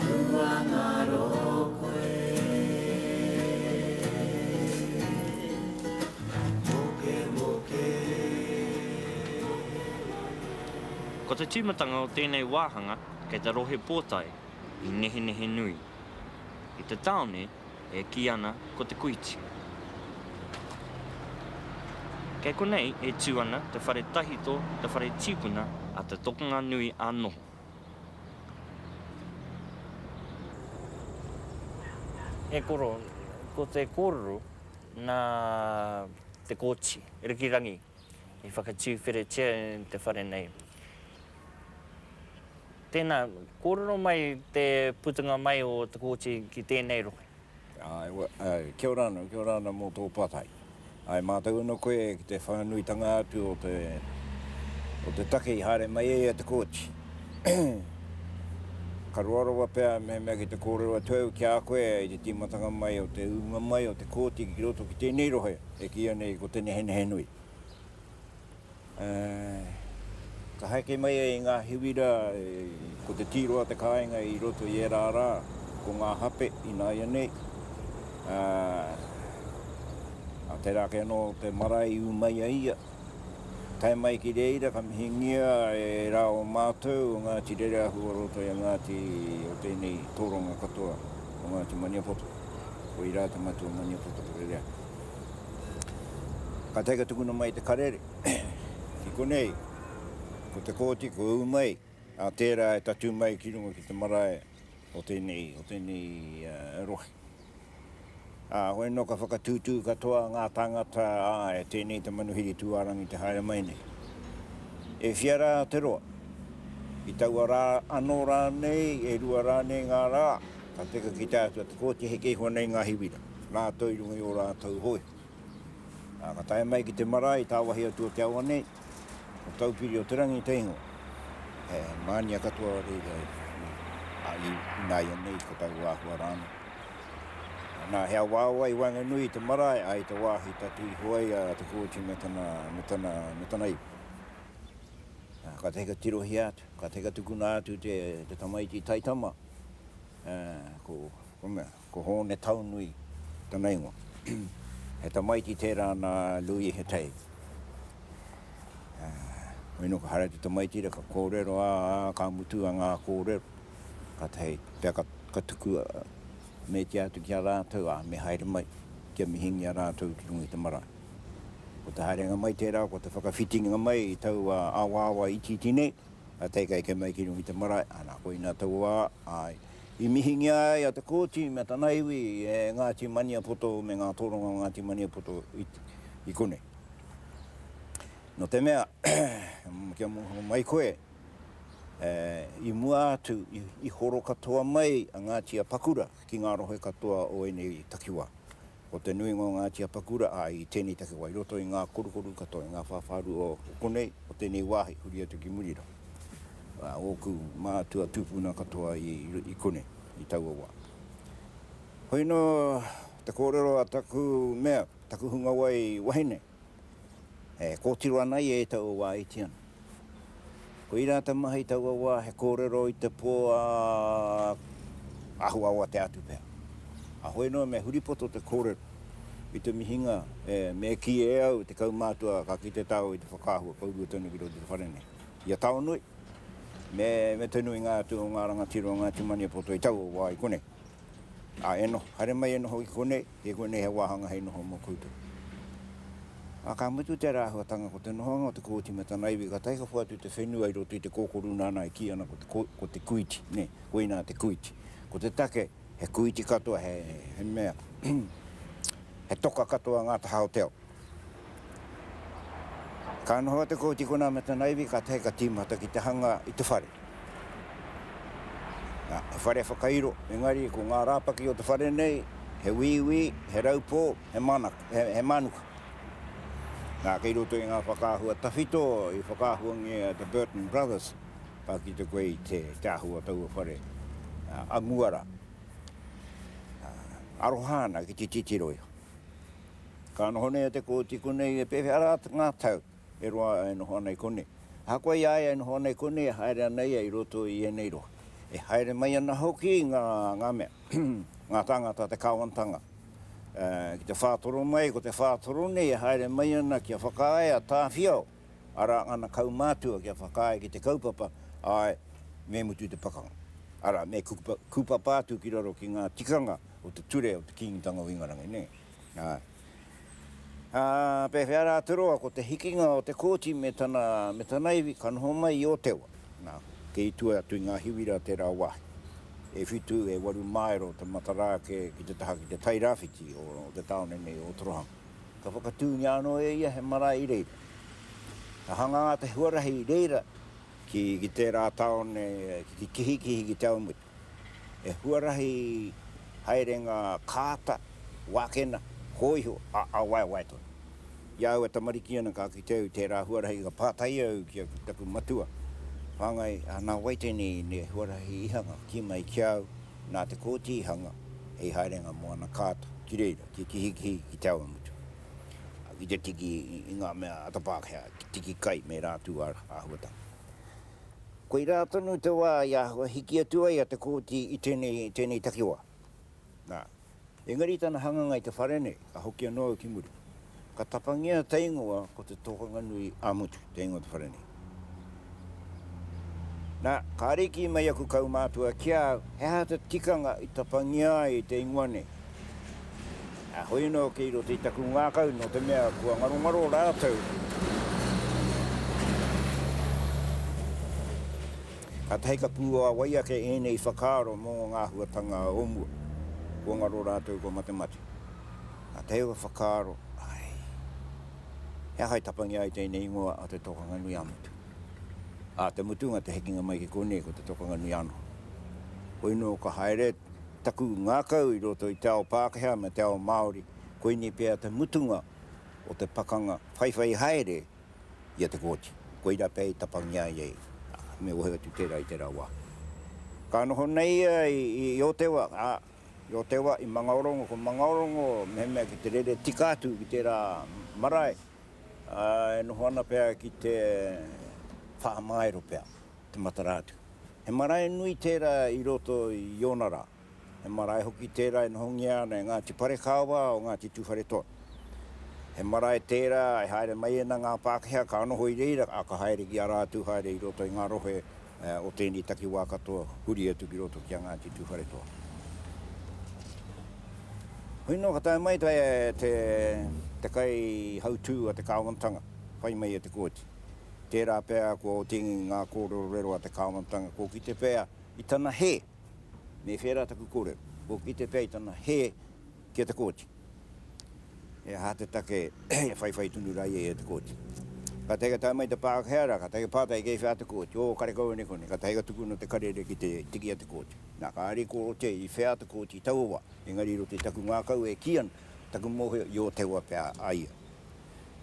Tuangaro koe Mokemoke Ko te tīmatanga o tēnei wāhanga kei te Rohe Pōtae i Nehenehenui, i te tāone e kī ana ko Te Kuiti. Kei konei e tū ana te whare tahito te whare tīpuna a te tokonga nui ā noho. E koro, ko te kōrero nā Te Kooti Rikirangi i whakatūwheretia e te whare nei. Tēnā, kōrero mai te putunga mai o Te Kooti ki tēnei rohe. Kia ora ana, kia ora ana mō tō patai. Ae mātou anō koe ki te whānuitanga atu o te o te take i haere mai ai e te Kōti. Ka roa rawa pea mehemea ki te kōrero atu au ki a koe i te tīmatanga mai o te ūnga mai o te Kōti ki roto ki tēnei rohe e kīia nei ko Te Nehenehenui. Ka haeke mai ai ngā hiwi rā, ko te tīroa te kāinga i roto i ērā rā, ko ngā hape ināianei, ā, tērā ake anō te marae i ū mai ai ia. Tae mai ki reira ka mihingia e rā o mātou o Ngāti Rereahu o roto i a Ngāti o tēnei tōranga katoa o Ngāti Maniapoto, koirā te matua Maniapoto Rereahu. Ka tae ka tukuna mai te karere ki konei, ko Te Kooti, ko ū mai, ā, tērā e tatū mai ki runga ki te marae o tēnei, o tēnei rohe. Ā, hoi nō ka whakatūtū katoa ngā tāngata, āe, tēnei te manuhiri tūārangi te haere mai nei. E whia rā te roa, i taua rā anō rānei, e rua rānei ngā rā, ka teka ki te Atua Te Kooti, heke iho nei ngā hiwira. rātou i runga i ō rātou hoe. Ā, ka tae mai ki te marae i tāwāhi atu o te awa nei, ko Taupiri o te rangi te ingoa. He mānia katoa o reira e. Ā, i, ināianei ko taua āhua rānei. Nā, he awaawa i waenganui i te marae, ā, i te wāhi tatū iho ai a Te Kooti me tana, me tana, me tana iwi. Ā, ka tahi ka tirohia atu, ka tahi ka tukuna atu te, te tamaiti taitama, ā, ko, ko mea, Ko Hōne Taunui tana ingoa. He tamaiti tērā nā Lui Hetei. Hoi nō ka haere te tamaiti ra ka kōrero, ā, ka mutu a ngā kōrero, kātahi hei pea ka tuku meetia atu ki a rātou, ā, me haere mai kia mihingia rātou ki runga i te marae. Ko te haerenga mai tērā, ko te whakawhitinga mai i taua awaawa itiiti nei, a teika eke mai ki runga i te marae, ana, koina taua wā, āe, I mihingia ai a Te Kooti me tana iwi e Ngāti Maniapoto me ngā tōrangā o Ngāti Maniapoto i konei. Nō te mea, kia mōhio mai koe, i mua atu i horo katoa mai a Ngāti Apakura ki ngā rohe katoa o ēnei takiwā. Ko te nuinga o ngā tiapakura āe i tēnei takiwā i roto i ngā korukoru katoa, i ngā whāwhārua o konei, o tēnei wāhi huri atu ki muri rā. Ā, ōku mātua tūpuna katoa i konei i taua wā. Hoi anō te kōrero a taku mea, taku hungawai wahine. e kōtiro ana ia e taua wā e iti ana. Koirā te maha i taua wā he kōrero i te pō a Ahuawa te atu pea. Ahoi noa me huripoto te kōrero i te mihinga me kī e au te kaumātua ka kite tāua i te whakaahua kourua tonu ki roto i te whare nei. I a Taonui me te nuinga atu o ngā rangatira o Ngāti Maniapoto i taua wā i konei. Ā, e noho, haere mai e noho ki konei. I konei he wāhanga hei noho mō koutou. Ā, ka mutu tērā āhuatanga ko te nohoanga o te kōti me tana iwi ka tae ka whakawhātu te whenua i roto i te kōkōrū nāna e kī ana ko te ko te kuiti, nē, koinā te kuiti. Ko te take, he kuiti katoa, he mea, he toka katoa ngā taha o te ao. Ka noho a Te Kooti konā me tana iwi ka tahi ka tīmata ki te hanga i te whare. He whare whakairo, engari ko ngā rāpaki o te whare nei he wīwī, he raupō, he mānuka. Nā, kei roto i ngā whakaahua tawhito i whakaahuangia e te Burton Brothers, ka kite koe i te ahu o taua whare a mua rā. Aroha ana ki te titiro iho. Ka noho nei a Te Kooti konei e pēwhea rā ngā tau e roa e noho ana i konei. Ahakoa i a ia e noho ana i konei e haere ana ia i roto i ēnei rohe. E haere mai ana hoki ngā mea, ngā tāngata, te kāwanatanga. Ki te whātoro mai, ko te whātoro nei e haere mai ana kia whakaae a Tāwhiao, arā, ana kaumātua kia whakaae ki te kaupapa, āe, me mutu te pakanga. Arā, me kūpapa atu ki raro ki ngā tikanga o te ture o te Kīngitanga o Ingarangi nei. Ā, pēwhea rā te roa ko te hikinga o te kōti me tana, me tana iwi ka noho mai i Ōtewa? Nā, kei tua atu i ngā hiwi rā tērā wāhi. E whitu, e waru māero te matara ake ki te taha ki te tai rāwhiti o te tāone nei o Ōtorohanga. Ka whakatūngia anō e ia he marae i reira. Ka hangā te huarahi i reira ki tērā tāone, ki Kihikihi, ki Te Awamutu. He huarahi haerenga kāta, wākena, hōiho, ā, waewae tonu. I a au a tamariki ana ka kite au i tērā huarahi ka pātai au ki taku matua, Whāngai, nā wai tēnei huarahi i hanga? Kī mai ki a au, nā Te Kooti i hanga hei haerenga mō ana kāta ki reira kia kihikihi ki te awamutu, ki te tiki i ngā mea ata Pākehā, tiki kai me rātū āhuatanga. Koirā tonu te wā i āhua hiki atu ai a Te Kooti i tēnei, tēnei takiwā. Nā, engari i tana hanganga i te whare nei, ka hoki anō au ki muri. Ka tapangia te ingoa ko Te Tokanganui a Mutu, te ingoa o te whare nei. Nā, ka ariki mai aku kaumātua ki a au, he aha te tikanga i tapangia ai te ingoa nei. Heoi anō kei roto i taku ngākau nō te mea kua ngarongaro rātou. Kātahi ka pūāwai ake ēnei whakaaro mō ngā āhuatanga o mua. Kua ngaro rātou kua matemate. Nā tēua whakaaro, āe. He aha e tapangia ai tēnei ingoa a Te Tōkanga-nui-ā-Motu? Ā te mutunga te hekenga mai ki konei ko Te Tōkanga-nui-ā-noho. Hoi nō ka haere taku ngākau i roto i te ao Pākehā me te ao Māori, koinei pea te mutunga o te pakanga whaiwhai haere i a Te Kooti. Koirā pea i tapangia ai ei, ā, me ohe atu tērā i tērā wā. Ka noho nei ia i Otewa, ā, i Otewa, i Mangaorongo, ko Mangaorongo mehemea ki te rere tika atu ki tērā marae, ā, e noho ana pea ki te whāmaero pea. te matara atu. He marae nui tērā i roto i ōna rā. He marae hoki tērā e nohongia ana e Ngāti Parekāwā o Ngāti Tūwharetoa. He marae tērā e haere mai ana ngā Pākehā ka noho i reira, ā, ka haere ki a rātou haere i roto i ngā rohe o tēnei takiwā katoa huri atu ki roto ki a Ngāti Tūwharetoa. Hoi noa ka tae mai te kaihautu a te kāwanatanga, whai mai e Te Kooti. Tērā pea kua otingi i ngā kōrerorero a te kāwanatanga, kua kite pea i tana hē, me kē rā taku kōrero, kua kite pea i tana hē ki a Te Kooti. He aha te take e whaiwhai tonu rā ia i a Te Kooti? Kātahi ka tae mai te Pākehā rā, kātahi ka pātai, kei whea Te Kooti? Ō, kare kau anei konei. Kātahi ka tukuna te karere ki te tiki a Te Kooti. Nā, kāre kua rotia i whea Te Kooti i taua wā, engari i roto i taku ngākau e kī ana, taku mōhio, i Ōtewa pea a ia.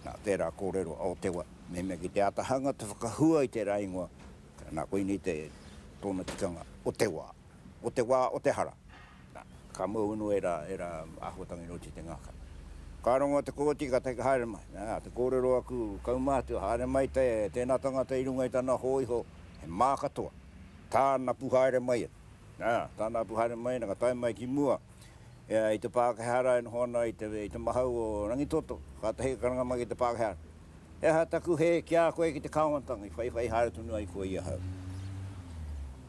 Nā, tērā kōrero a Otewa, mehemea ki te āta hanga te whakahua i tērā ingoa, nā, koinei te, tōna tikanga, o te wā, o te wā o te hara. Nā, ka mau anō ērā, ērā āhuatanga i roto i te ngaka. Ka rongo te kōti, ka tae ka haere mai. Nā, te kōrero aku kaumātua, haere mai te, tēnā tangata i runga i tana hōiho, he mā katoa, tāna pu haere mai ana. Nā, tāna pu haere mai ana, ka tae mai ki mua, E ai te Pākehā rā e noho ana i te i te mahau o Rangitoto, kātahi ka karanga mai ki te Pākehā, He aha taku hē ki a koe ki te kāwanatanga i whaiwhai haere tonu ai koe i ahau?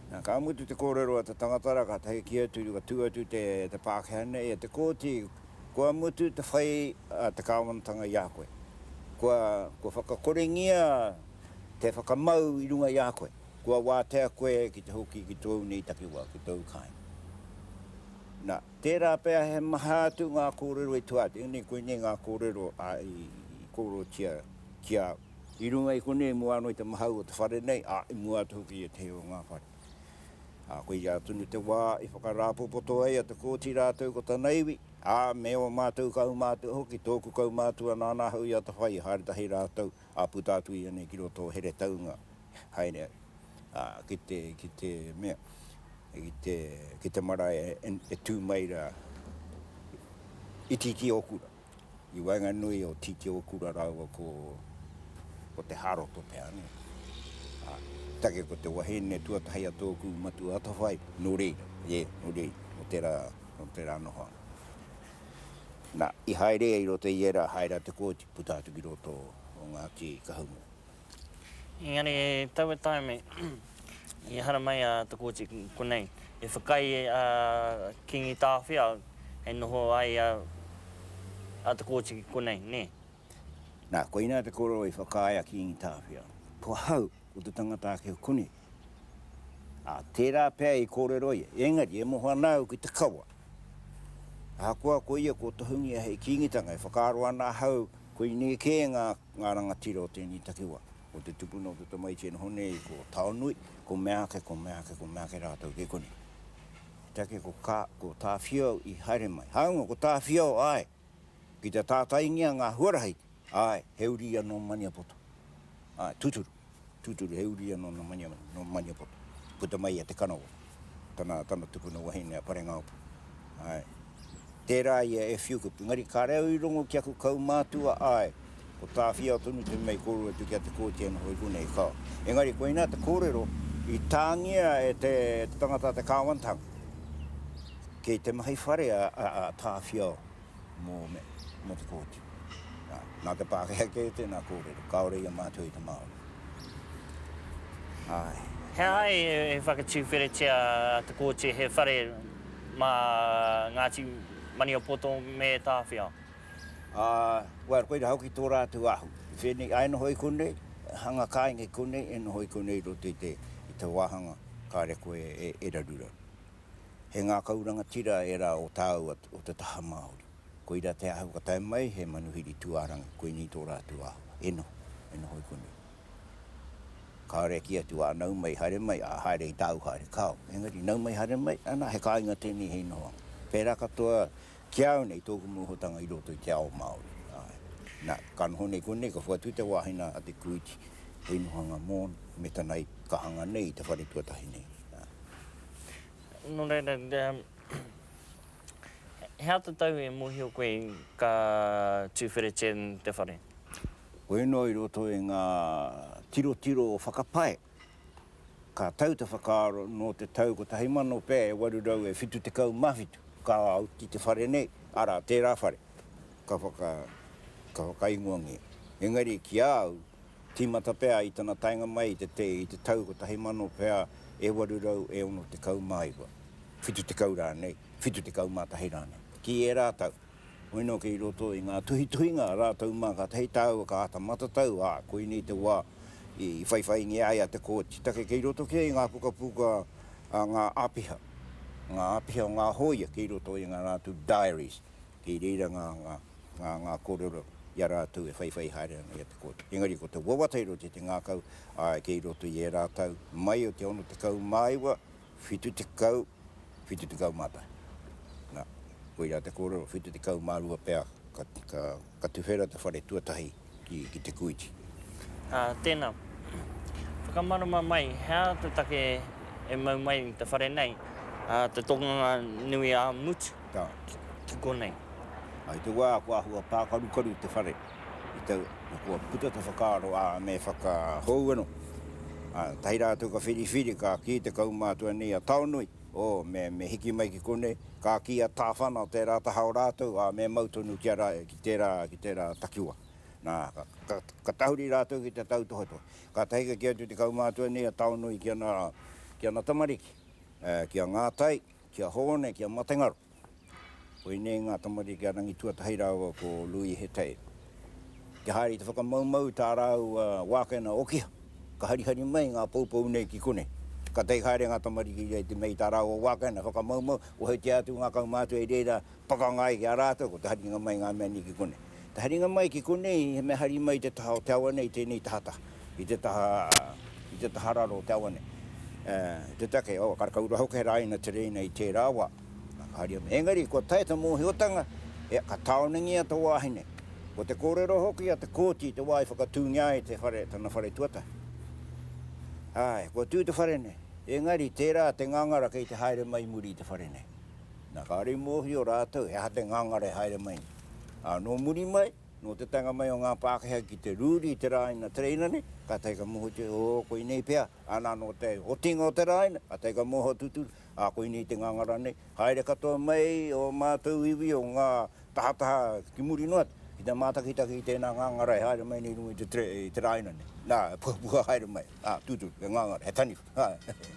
Nā, ka mutu te kōrero a te tangata rā, kātahi kī atu, ka tū atu te te Pākehā nei e te kōti, Kua mutu te whai a te kāwanatanga i a koe. Kua, kua whakakorengia te whakamau i runga i a koe. Kua wātea koe ki te hoki ki tōu nei takiwā, ki tōu kāinga. Nā, tērā pea he maha atu ngā kōrero i tua atu. Ēnei koinei ngā kōrero a, i, i kōrerotia ki a au. I runga i konei, i mua anō i te mahau o te whare nei, ā, i mua atu hoki i ētehi o ngā whare. Ā, koia tonu te wā i whakarāpopoto ai a Te Kooti rātou ko tana iwi, ā, me ō mātou kaumātua hoki, tōku kaumātua nāna ahau i atawhai, haere tahi rātou, ā, puta atu ia nei ki roto o Heretaunga, haere ai, ā, ki te, ki te mea, ki te, ki te marae e tū mai rā i Tītiōkura, i waenganui o Tītiōkura rāua ko, ko Te Hāroto pea, nē. Ā, take ko te wahine tuatahi a tōku matua atawhai, nō reira, ē, nō reira, nō tērā, nō tērā noho atu. Nā, i haere ia i roto i ērā haere a Te Kooti, puta atu ki roto o Ngāti Kahungunu. Engari e taua taime i haramai a Te Kooti ki konei, i whakaae a Kingi Tāwhiao hei noho ai a Te Kooti ki konei, nē. Nā, koinā te kōrero i whakaae a Kingi Tāwhiao, ko ahau, ko te tangata ake o konei. Ā, tērā pea i kōrero ia, engari e moho ana au ki te kawa. Ahakoa ko ia kua tohungia hei Kīngitanga, e whakaaro ana ahau koinei kē ngā Ngā rangatira o tēnei takiwā, ko te tupuna o te tamaiti e noho nei, ko Taonui, ko meāke, ko meāke, ko meāke rātou kei konei. Te take ko Ka, ko Tāwhiao i haere mai. Hāunga ko Tāwhiao, āe, ki te tātaingia ngā huarahi, āe, he uri anō Maniapoto. Āe, tūturu. Tūturu, he uri anō nō Maniapoto, nō Maniapoto. Puta mai i a Te Kanawa, tana, tana tupuna wahine a Parengaopu. Āe. Tērā ia e whiu kupu. Engari kāre au i rongo ki aku kaumātua, āe, ko Tāwhiao tonu te mea i kōrero atu ki a Te Kooti anō hoki konei, ka. Engari koinā te kōrero i tāngia e te, te tangata a Te Kāwanatanga. Kei te mahi whare a, a, a Tāwhiao mō me, mō te Kōti. Nā, nā te Pākehā kē tēnā kōrero, kāore i a mātou i te Māori. Āe. He aha e whakatūwheretia a Te Kooti he whare mā Ngāti Maniapoto me Tāwhiao? Ā, well, koirā hoki tō rātou ahu. I whēnei, āe noho i konei, hanga kāinga i konei, e noho i konei i roto i te, i te wāhanga kāre koe e, e raruraru. He ngākau rangatira ērā o tāu o te taha Māori. Koira te ahu ka tae mai, he manuhiri tūārangi, koinei tō rātou āhua. E noho, e noho i konei. Kāore e kī atu, ā, nau mai, haere mai, ā, haere i tāu haere, kāo. Engari, nau mai, haere mai, anā, he kāinga tēnei hei nohoanga. Pērā katoa ki au nei, tōku mōhotanga i roto i te ao Māori, āe. Nā, ka noho nei konei, ka whakatū i te wāhina a Te Kūiti hei nohoanga mōna me tana kahanga nei i te whare tuatahi nei, āe. Nō reira, he ata tau e mōhio koe ka tūwheretia te whare? Koia noa i roto i ngā tirotiro o whakapae, ka tau te whakaaro nō te tau 1000 pea e 877 ka oti te whare nei, arā, tērā whare ka whakaingoangia. Engari ki a au, Tīmata pea i tana taenga mai i te te i te tau 1000 pea e 869, 70 rānei, 71 rānei, ki ērā tau. Hoi nō kei roto i ngā tuhituhinga rātou mā kātahi tāua ka āta matatau, ā, koinei te wā i whaiwhaingia ai a Te Kooti take kei roto kē i ngā pukapuka a ngā āpiha, ngā āpiha o ngā hōia kei roto i ngā rātou diaries. kei reira ngā, ngā, ngā, ngā kōrero i a rātou e whaiwhai haere ana i a Te Kooti. Engari ko te wawata i roto i te ngākau, āe, kei roto i ērā tau, mai o te 69, 70, 71. Nā, koirā te kōrero, 72 pea ka, ka, ka tuwhera te whare tuatahi ki te Kūiti. Ā, tēnā. Whakamārama mai, he aha te take e mau mai i te whare nei, ā, te tōnganga nui ā Mut ki konei? I te wā kua āhua pākarukaru te whare, i te, kua puta te whakaaro, ā, me whakahou anō. Ā, tahi rātou ka whiriwhiri, ka kī te kaumātua nei a Taonui, Oh, me, me hiki mai ki konei, ka kī a Tāwhana o tērā taha o rātou, ā, me mau tonu ki a ra, ki tērā, ki tērā takiwa. Nā, ka, ka, ka tahuri rātou ki te tautohetohe. Kātahi ka kī atu te kaumātua nei a Taonui ki ana, ki ana tamariki, eh, ki a Ngātai, ki a Hōne, ki a Matengaro. Koinei ngā tamariki a Rangituatahi rāua ko Lui Hetair. Kia haere i te whakamaumau i tā rāua wākena okiha, ka harihari mai ngā poupou nei ki konei. Ka take haere ngā tamariki nei te mea i tā rāua wākena whakamaumau, ohetia atu ngā kaumātua i reira pakanga ai ki a rātou, ko te haringa mai i ngā mea nei ki konei. Te haringa mai ki konei, he mea hari mai i te taha o te awa nei, i tēnei tahataha, i te taha, i te taha raro o te awa nei. Te take, oh, karakau rā hoki he rāina tereina i tērā wā. Nā, ka haria mai. Engari, kua taea te mōhiotanga, ea, ka tāonengia te wāhine. Ko te kōrero hoki a Te Kooti te wā i whakatūngia ai te whare, tana whare tuatahi. Āe, kua tū te whare nei. Engari, tērā te ngangara kei te haere mai i muri i te whare nei. Nā, kāore i mōhio rātou he aha te ngangara e haere mai nei. Ā, nō muri mai, nō te taenga mai o ngā Pākehā ki te rūri i te rāina tereina nei, kātahi ka mōhiotia, ō, koinei pea, āna anō te otinga o te rāina, kātahi ka mōhio tūturu, ā, koinei te ngangara nei, haere katoa mai ō mātou iwi o ngā tahataha ki muri noa atu, ki te mātakitaki i tēnā ngangara e haere mai nei i runga i te, i te rāina nei, nā, e pukapuka haere mai, ā, tūturu, he ngangara, he taniwha, ā.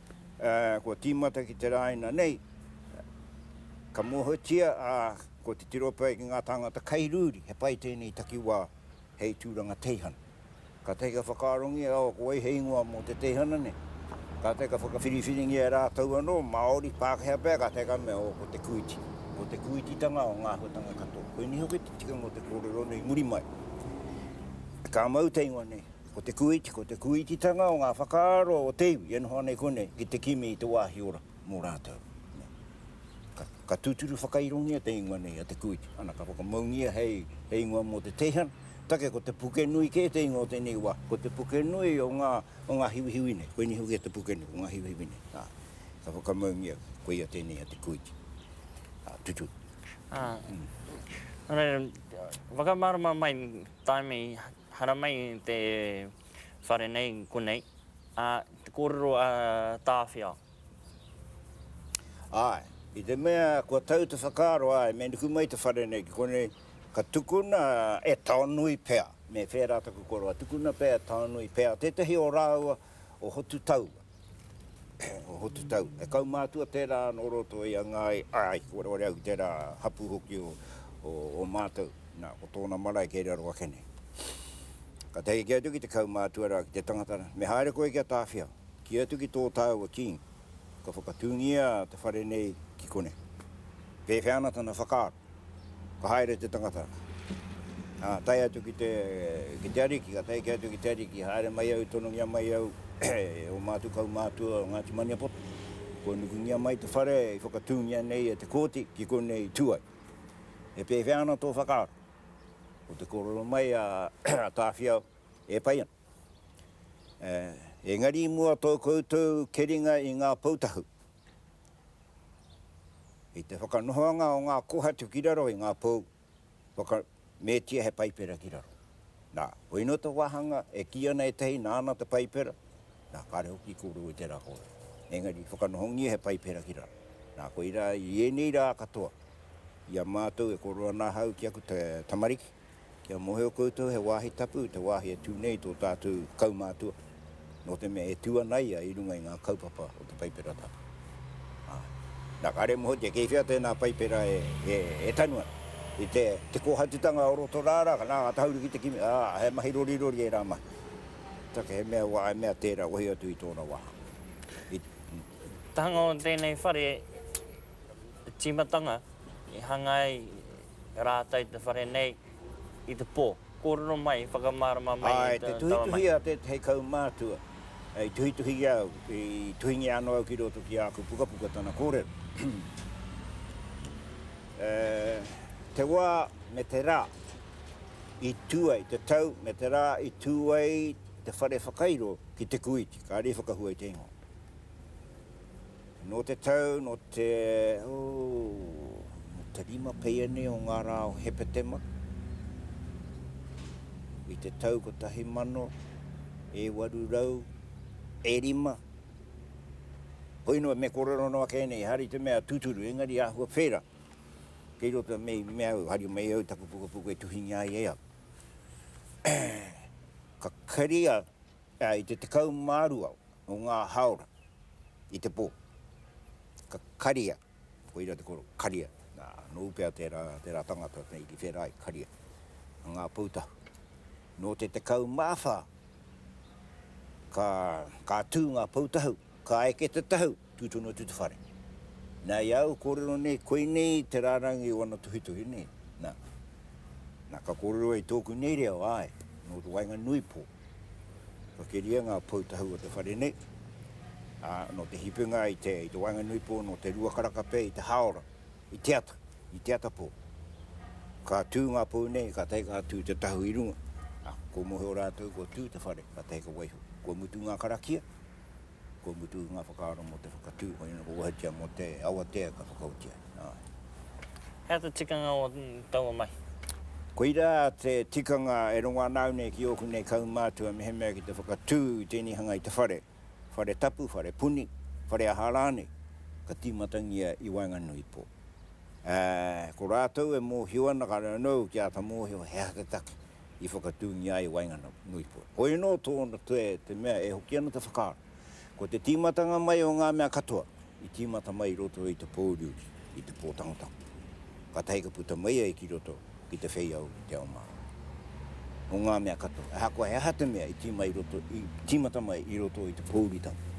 kua tīmata ki te rāina nei, ka mōhiotia, ā, ko te tirope ai ki ngā tāngata kei rūri, he pai tēnei takiwā hei tūranga teihana. Kātahi ka whakaarongia aua ko wai he ingoa mō te teihana nei. Kātahi ka whakawhiriwhiringia e rātou anō, Māori, Pākehā pea, kātahi ka mea, ō, ko te kūiti. Ko te kūititanga o ngā āhuatanga katoa. Koinei hoki te tikanga o te kōrero nei muri mai. Ka mau te ingoa nei, Ko te kūiti, ko te kūititanga o ngā whakaaro o te iwi e noho ana i konei ki te kimi i te wāhi ora mō rātou. Ka tūturu whakairongia te ingoa nei a Te Kūiti, ana, ka whakamaungia hei ingoa mō te teihana. Take ko Te Pukenui kē te ingoa o tēnei wā. Ko Te Pukenui o ngā hiwihiwi nei, koinei hoki a Te Pukenui o ngā hiwihiwi nei. Ka whakamaungia koia tēnei a Te Kūiti. Tuturu. Āe. Whakamārama mai tāimi Haramai te whare nei konei, ā, te kōrero a Tāwhiao. Āe, i te mea kua tau te whakaaro, āe, me nuku mai te whare nei ki konei, ka tukuna e Taonui pea. Me whērā taku koroa, tukuna pea e Taonui pea tētahi o rāua o Hotutau. o Hotutau. E kaumātua tērā nō roto i a Ngāi, āe, kua roa au tērā hapū hoki o, o, o mātou. Nā, ko tōna marae kei raro ake nei. Ka tae ki atu ki te kaumātua rā, ki te tangata rā, me haere koe kia tāwhiao, kī atu ki tō tāua King, ka whakatūngia te whare nei ki konei. Pēwhea ana tana whakaaro? Ka haere te tangata, ā, tae atu ki te, ki te Ariki, ka tae ki atu ki te Ariki, haere mai au, tonongia mai au e ō mātou kaumātua o Ngāti Maniapoto, kua nukungia mai te whare i whakatūngia nei e te Kōti ki konei i tū ai. He pēwhea ana tō whakaaro? Ko te kōrero mai a Tāwhiao, e pai ana. Engari i mua tō koutou keringa i ngā Pou Tahu, I te whakanohoanga o ngā kōhatu ki raro i ngā pou, whaka, metia he paipera ki raro. Nā, koia noa te wāhanga e kī ana ētahi nāna te paipera, nā, kāre hoki i kōrero i tērā kōrero. Engari i whakanohongia he paipera ki raro. Nā, koirā i ēnei rā katoa, i a mātou e kōrero ana ahau ki aku tamariki, Kia mohio koutou he wāhi tapu te wāhi e tū nei tō tātou kaumātua, nō te mea e tū ana ia i runga i ngā kaupapa o te Paipera Tapu. Āe. Nā, kāre e mōhiotia kei whea tēnā Paipera e tanu ana, i te kōhatutanga o roto rā rā, nā, ngā tahauri ki te kimi, ā, he mahi rorirori ērā mahi. Take he mea wā, he mea tērā, wehi atu i tōna wā. I. Te hanga o tēnei whare tīmatanga i hanga ai rātou i te whare nei i te pō. Kōrero mai, whakamārama mai e te tama mai. Āe, te tuhituhi a tētahi kaumātua i tuhituhi i a au, i tuhingia anō au ki roto ki āku pukapuka tana kōrero. Te wā me te rā i tū ai, te tau me te rā i tū ai te whare whakairo ki Te Kūiti, kāre i whakahua i te ingoa. Nō te tau, nō te, oh, te rima peia nei o ngā rā o Hepetema, i te tau kotahi mano, e waru rau, e rima, hoi noa, me kōrero noa kē nei, hari te mea tūturu, engari āhua whēra, kei roto me, me au, hari mai au taku pukapuka e tuhingia ai e au. Ka keria Ā, i te tekau mā rua o ngā hāora i te pō, ka karia, koira te koro, karia, nā, nōu pea tērā, tērā tangata nei ki whērā i karia, a Ngā Pou Tahu. Nō te tekau mā whā, ka, ka tū Ngā Pou Tahu. Ka eke te tahu, tū tonu atu te whare. Nā, i āu kōrero nei, koinei te rārangi o ana tuhituhi nei, nā. Nā, ka kōrero ai tōku nei reo, āe, nō te waenganui pō. Ka keria ngā pou tahu o te whare nei, ā, nō te hipenga i te, i te waenganui pō, nō te rua karaka pea i te hāora, i te ata, i te ata pō. Ka tū ngā pou nei, kātahi ka tū te tahu i runga, ā, kua mōhio rātou kua tū te whare, kātahi ka waiho. Kua mutu ngā karakia, Kua mutu ngā whakaaro mō te whakatū, koinei kua wahatia mō te awatea ka whakaoti ai, āe. Hea te tikanga o taua mahi? Koirā te tikanga e rongo ana au nei ki ōku nei kaumātua mehemea ki te whakatū i tēnei hanga i te whare, whare tapu, whare puni, whare aha rānei, ka tīmatangia i waenganui pō. Ā, ko rātou e mōhio ana ka reo nou ki āta mōhio he aha te take. i whakatūngia ai waingana Nuipoia. Ko ēnō tōna toe te mea e hoki ana te whakaaro. Ko te tīmatanga mai o ngā mea katoa i tīmata mai i roto i te pōuriuri, i te pōtangotango, kātahi ka puta mai ai ki roto ki te wheiau i te ao Māori. Nō ngā mea katoa, ahakoa he aha te mea i tīmata mai i roto i te pōuritanga,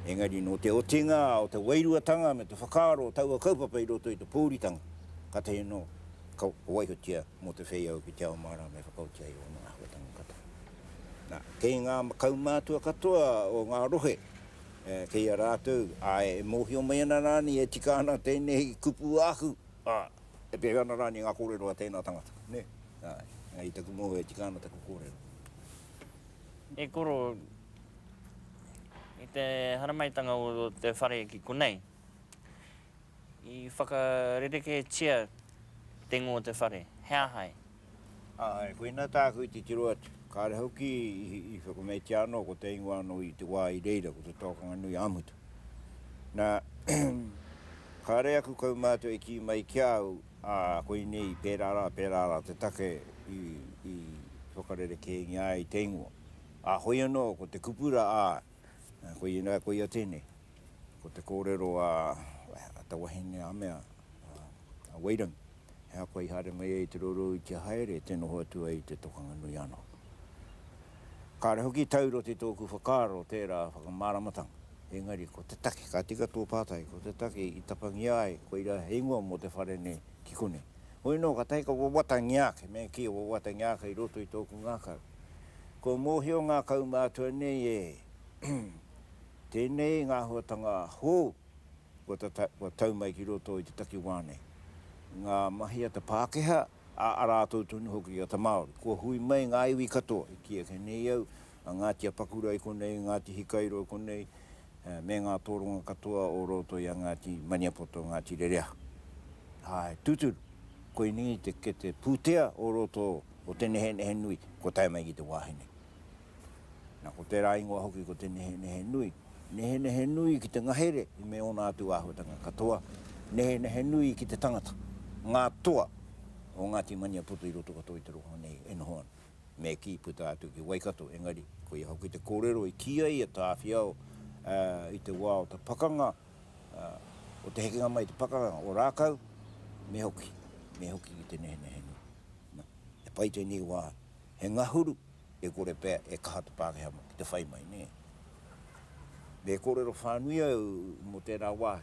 engari nō te otinga o te wairuatanga me te whakaaro o taua kaupapa i roto i te pōuritanga, kātahi anō ka waihotia mō te whei au ki te ao māra me whakaoti ai ōna āhuatanga katoa. Nā, kei ngā kaumātua katoa o ngā rohe, kei a rātou, āe, e mōhio mai ana rānei e tika ana tēnei kupu āku, ā, e pēhea ana rānei ngā kōrero a tēnā tangata, nē? Āe, i taku mōhio e tika ana taku kōrero. E koro, i te haramaitanga o te whare ki konei, I whakarereketia te ngo o te whare, he aha e? Ae, koina tāku i titiro atu. Kāre hoki i whakameitia anō ko te ingoa anō i te wā i reira, ko te Tōkanga Nui ā Mutu. Nā, kāre aku kaumātua i kī mai ki a au, ā, koinei pērā rā, pērā rā te take i whakarerekēngia ai te ingoa. Ā, hoi anō ko te kupu rā, ā, koina, koia tēnei. Ko te kōrero a te wahine Amea, a Weyden, he aha koa i haere mai ai i te roroui kia haere, tē noho atu ai i te tokanga nui anō. Kāre hoki taura te tōku whakaaro tērā whakamāramatanga, engari ko te take, ka tika tō pātai, ko te take i tapangia ai koirā he ingoa mō te whare nei ki konei. Hoi nō, ka tahi ka wawatangia ake, me kī, wawatangia ake i roto i tōku ngākau. Kua mōhio ngā kaumātua nei e. Tēnei ngā āhuatanga hou kua tau mai ki roto i te takiwā nei. Ngā mahi a te Pākehā, ā, arā tou tonu hoki a te Māori. Kua hui mai ngā iwi katoa i kī ake nei au, a Ngāti Apakura i konei, Ngāti Hikairo i konei, me ngā tōrunga katoa o roto i a Ngāti Maniapoto, Ngāti Rereahu. Āe, tūturu, koinei te kete pūtea o roto o te nehenehe nui kua tae mai ki te wāhi nei. Na, ko tērā ingoa hoki ko te nehenehe nui. Nehenehe nui ki te ngahere me ōna atu āhuatanga katoa, nehenehe nui ki te tangata, ngā toa o Ngāti Maniapoto i roto katoa i te rohe nei e noho ana. Me kī, puta atu ki Waikato, engari, koia hoki te kōrero i kī ai a Tāwhiao i te wā o te pakanga, o te hekenga mai i te pakanga o Rākau, me hoki, me hoki ki te nehenehe nui. Na, he pai tēnei wā He ngahuru, e kore pea e kaha te Pākehā mō ki te whai mai, nē. Me kōrero whānui au mō tērā wā,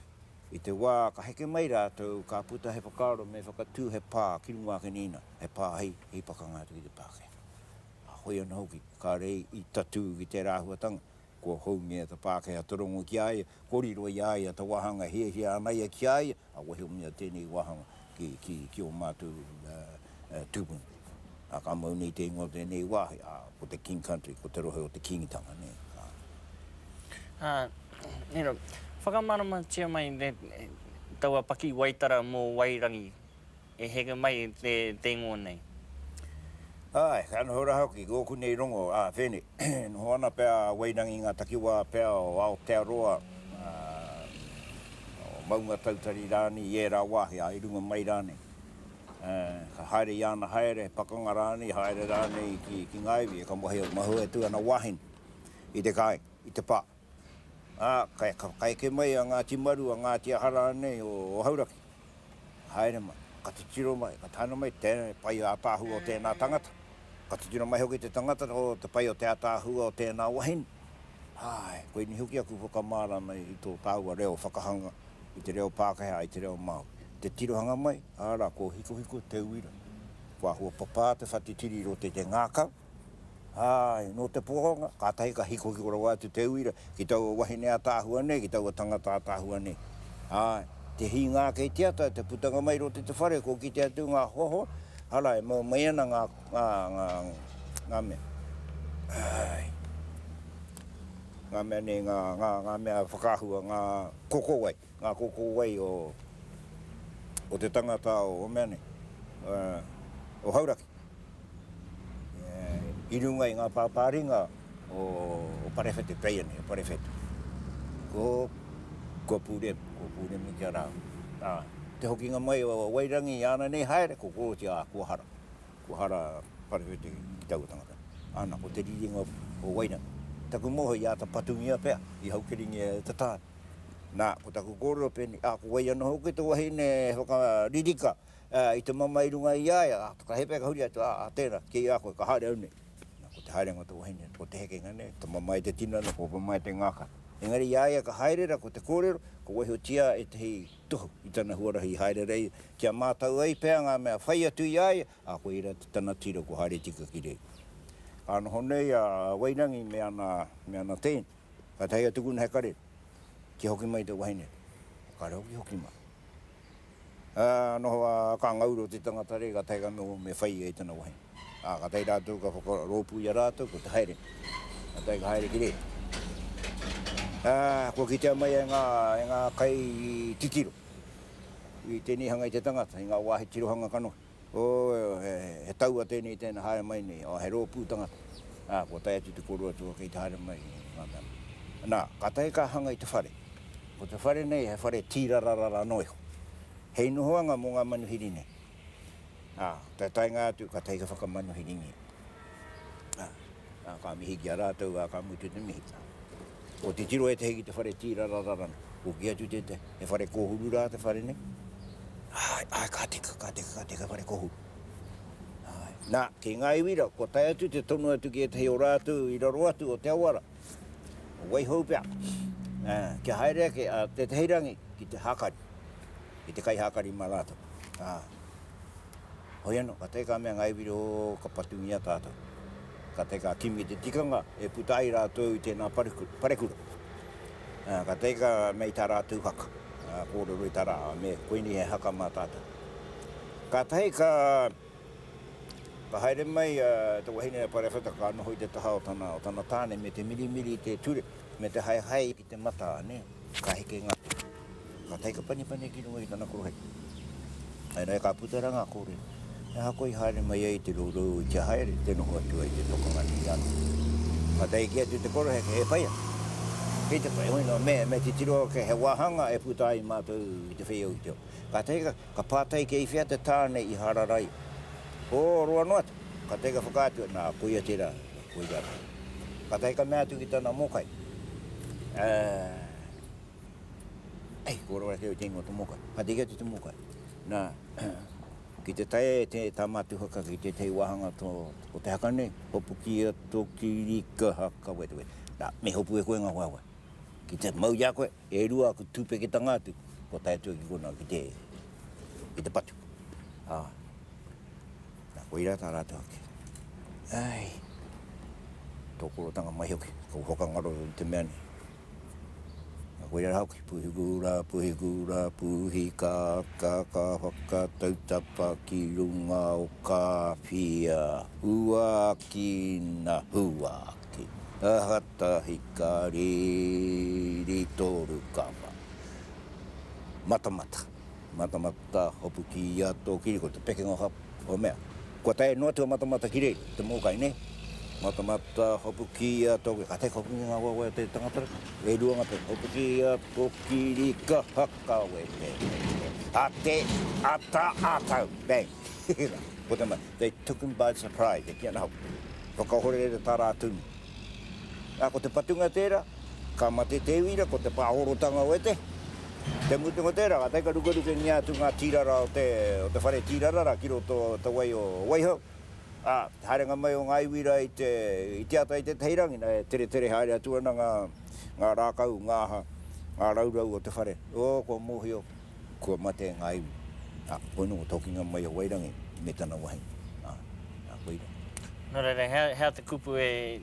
i te wā ka heke mai rātou, ka puta he whakaaro me whakatū he pā ki runga ake nei nā, he pā hei pakanga atu ki te Pākehā. Hoi anō hoki, kāre i tatū ki tērā āhuatanga, Kua houngia te Pākehā te rongo ki a ia, kua riro i a ia te wāhanga e hiahia ana ia ki a ia, ā, kua hiomia tēnei wāhanga ki ō mātou tūpuna. Ā, ka mau nei te ingoa o tēnei wāhi, ā, ko te King Country, ko te rohe o te Kīngitanga nei, ā. Ā, nē, whakamāramatia mai taua pakiwaitara mō Wairangi, e heke mai i te teingoa nei. Āe, ka noho rā hoki ki ōku nei rongo, ā, Whene, e noho ana pea a Wairangi i ngā takiwā pea o Aotearoa, ā, o Maungatautari rānei i ērā wāhi, ā, i runga mai rānei. Ā, ka haere i āna haere, he pakanga rānei, haere rānei ki, ki ngā iwi e ka mahue, mahue atu ana wāhine i te kāinga, i te pā. Ā, ka whakaeke mai a Ngāti Maru, a Ngāti Aha rānei o Hauraki, ka haere mai, ka titiro mai, ka tāna mai te pai ātaahua o tēnā tangata, ka titiro mai hoki te tangata o te pai o te ātaahua o tēnā wahine. Āe, koinei hoki aku whakamārama i tō tāua reo whakahanga i te reo Pākehā, i te reo Māori. Te tirohanga mai, arā, kua hikohiko te uira, kua huapapā te whati tiri i roto i te ngākau, Āe, nō te poronga, kātahi ka hikohiko rawa atu te uira ki taua wahine ataahua nei, ki taua tangata ataahua nei. Āe, te hīnga ake i te ata, te putanga mai i roto i te whare, kua kite atu ngā hoahoa, ara, e mau mai ana ngā, ngā, ngā, ngā mea, āe, ngā mea nei, ngā, ngā, ngā mea whakaahua, ngā kokowai. Ngā koko wai o te tangata o mea nei, o Hauraki, i runga i ngā pāpāringa o Parewhete, Peianei o Parewhete. Kua pūremu, kua pūremu kia rā. Ā, te hokinga mai o Wairangi i ana nei haere, ko Korotia, ā, kua hara. Kua hara Parewhete ki taua tangata. Ana, ko te riringa o Wairangi. Taku moho i āta patungia pea, i haukeringea e te tāne. Nā, ko taku kōrero pēnei, ā, ko wai anō hoki te wahine e whakaririka i te mamae i runga i a ia, ā, ka hepa e ka huri atu, ā, tēnā, kē a koe, ka haere au nei. Nā, ko te haerenga o te wahine, ko te hekenga nei, te mamae te tinana, ko mamae te ngākau. Engari i a ia ka haere rā, ko te kōrero, ka waihotia ētehi tohu i tana huarahi i haere rā ia, kia mātau ai pea ngā mea whai atu i a ia, ā, koia rā tana tiro ko Haere Tika ki reira. Ka noho nei a Wairangi me ana teina. Kātahi a tukuna he kare, kia hoki mai te wahine. Kāre hoki, hoki mai. Ā, noho a Kāngauru o te tangata rei, kātahi ka noho me whai ia i tana wahine. Ā, kātahi rātou ka whakarōpū i a rātou, ko te haere. Kātahi ka haere ki rē. Ā, kua kitea mai e ngā, e ngā kai titiro, i tēnei hanga i te tangata, i ngā wāhi tirohanga kanohi. Ooh, he taua tēnei i tēnei haere mai nei, oh, he rōpū tangata, ah, kua tae atu te koro atu o kei te haere mai, nga mea nei. Na, ka tae ka hanga i te whare. Ko te whare nei he whare tīrararara noa iho. Hei nohoanga mo nga manuhiri nei. Ah, te taenga atu ka tae ka whakamanuhiringia. Ah. Ka mihi ki a rātou, ā, ka mutu te mihi. Ko te tiro ētehi ki te whare tīrarararana, ko kī atu tētehi, he whare kōhuru rā te whare nei? Āe, āe, ka teka, ka teka, ka teka, whare kōhuru. Āe. Nā, ki ngā iwi rā, kua tae atu te tonu atu ki ētehi o rātou i raro atu o te awa rā, wai hou pea, ā, kia haere ake a tētehi rangi ki te hākari, ki te kaihākari mā rātou, ā. Hoi anō, ka tae ka mea ngāi wiri, ō, ka patungia tātou. Ka tae ka kimi te tikanga e puta ai rātou i tēnā parekura. Ā, ka tae ka mea i tā rātou haka, ā, kōrero i tā rā, ā, me koinei he haka mā tātou. Ka tae ka, ka haere mai te wahine a Parewhata, ka noho i te taha o tana, o tana tāne me te mirimiri i te ture, me te haehae ki te matā, nē. Ka heke ngā taika panipani ki runga i tana koroheke. Āe rā, e ka puta rā ngā kōrero. He aha koa i haere mai ai te rourou i te haere te noho atu ai te tokanga nui ano? Ka tae ki atu te koroheke, he pai ana. Kei te pai, hoi noa, me titiro ake he wāhanga e puta ai mātou i te whei o Uteo. Ka tae ka pātai kei whea te tāne i hārarai, o roa noa atu. Ka tae ka whakaatu, nā, koia tērā. Wiki atu. Ka tae ka mea atu ki tana mokai, E, e, kua rawa kē te ingoa o te mokai. Ka tiki atu te mokai. Na, ki te tae e te tāmatuhaka ki tētahi wāhanga o te haka nei, hopukia tō kirikahaka wetewete. Na, me hopu e koe ngā waiwai. Ki te mau i a koe, E rua aku tūpeketanga atu, kua tae atu ki konā, ki te, ki te patu. Ā, nā, koirā tā rātou ake. Ai, tō porotanga mai hoki, kou whakangaro i te mea nei. Nā, koirā rā hoki, pūhiku rā, pūhiku rā, pūhi kā, kā, kā whakatau tapa ki runga o kā whia, huakina, huakina. Te aha tahi ka riri toru kapa? Matamata. Matamata hopu ki ia to kiri ko te pekenga ha o mea. Kua tae noa tua matamata ki rei, te mokai ne? Matamata hopu ki ia to kiri. Ka tae hopu ki nga wawe o te tangata reka. E rua nga pekenga. Hopu ki ia to kiri ka hakawe te. A te ata a tau. Bang. Hehe la. Ko te mai. They took him by surprise, e kī ana hoki, whakahorere tā rātou i. Ā, ko te patunga tērā, ka mate te uira, ko te pāhorotanga o ētahi. Te mutunga o tērā, kātahi ka rukerukengia atu ngā tīrara o te, o te whare tīrarara ki roto o te wai o Waihau, ā, te haerenga mai o ngā iwi rā i te, i te ata i tētahi rangi, nā, e teretere haere atu ana ngā, ngā rākau, ngā aha, ngā raurau o te whare. Ō, kua mōhio. Kua mate e ngā iwi. Ā, koinei kua tokinga mai a Wairangi me tana wahine. Ā, ā, koirā. Nō reira, he, he aha te kupu e,